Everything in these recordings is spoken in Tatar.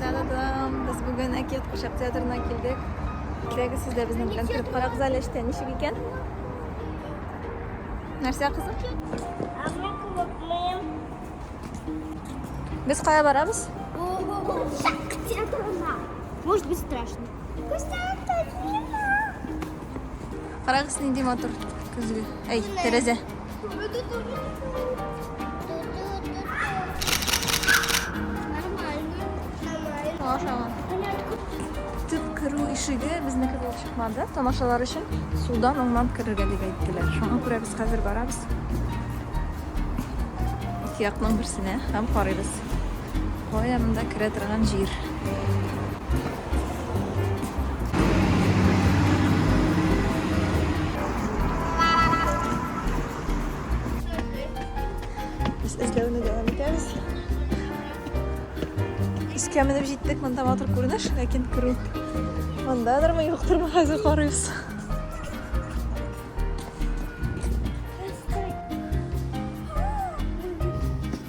Та-да-дам! Без бүген Әкият Кушап театрына килдек. Кирәге сез дә безнең белән кереп карагыз әле эштә ничек икән? Нәрсә кызым? Без кая барабыз? Может быть страшно. Карагыз, нинди матур көзге. Әй, тәрәзә. Төп керү ишеге безнеке булып чыкмады. Тамашалар өчен судан уңнан керергә дип әйттеләр. Шуңа күрә без хәзер барабыз. Икеякның берсенә һәм карыйбыз. Кая монда керә торган җир? Без эзләүне дәвам итәбез. Искә менеп җиттек, монда матур күренеш, ләкин керү мондадырмы, юктырмы, хәзер карыйбыз.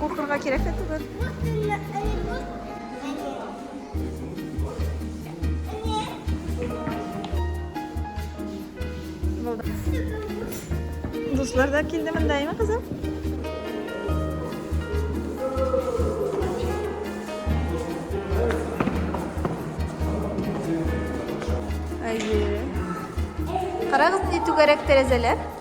Куркырга кирәк тә түгел. Дуслар да килде монда, әйме кызым? Әйе. Карагыз, ни түгәрәк тәрәзәләр.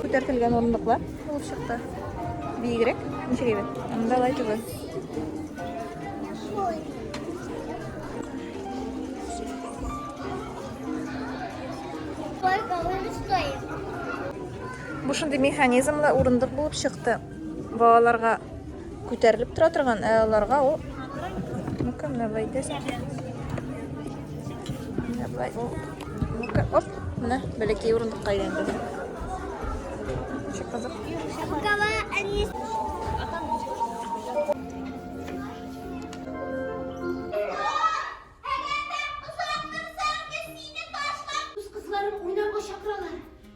Күтәртелгән урындыклар булып чыкты. Биегрәк, ничек әйбәт? Анда лай түгел. Сколько он стоит? Бу шундый механизмлы урындык булып чыкты. Балаларга күтәрелеп тора торган, ә аларга ул Ну-ка, менә булай итәсең. Менә булай. Ну-ка, оп, менә бәләкәй урындыкка әйләнде. Ши кызык. Букава они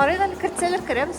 Арыйдан кертсәләр керәбез.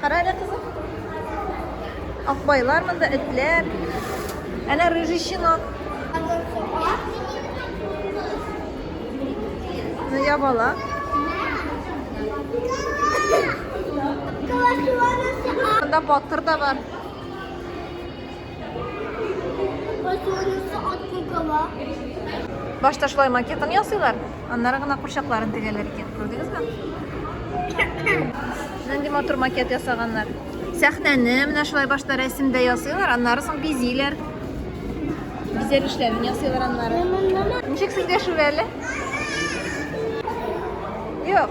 Кара әле, кызым. Акбайлар монда, этләр. Әнә рыжий щенок. Ну, я бала. Монда батыр да бар. Башта шулай макетын ясыйлар, аннары гына курчакларын тегәләр икән. Күрдегезме? Нинди матур макет ясаганнар. Сәхнәне менә шулай башта рәсемдә ясыйлар, аннары соң бизиләр. Бизәр эшләрен ясыйлар аннары. Ничек сезгә шүрәле? Юк.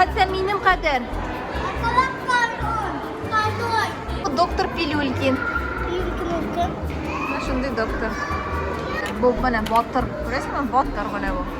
Хәтта минем кадәр. Доктор Пилюлькин. Шундый доктор. Бу менә батыр. Күрәсеңме? Батыр менә бу.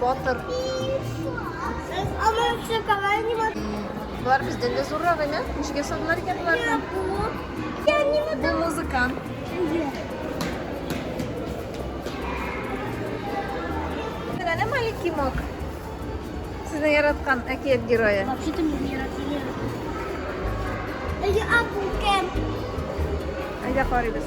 Батыр. Ана все калайни вот. Бар бездә дә зуррак иде. Ничек ясадылар икән буларны? Я не могу. Бу музыкант. Менә маленький мок. Сезне яраткан әкият герое. Вообще-то меня яратыйлар. Я апукен. Әйдә карыйбыз.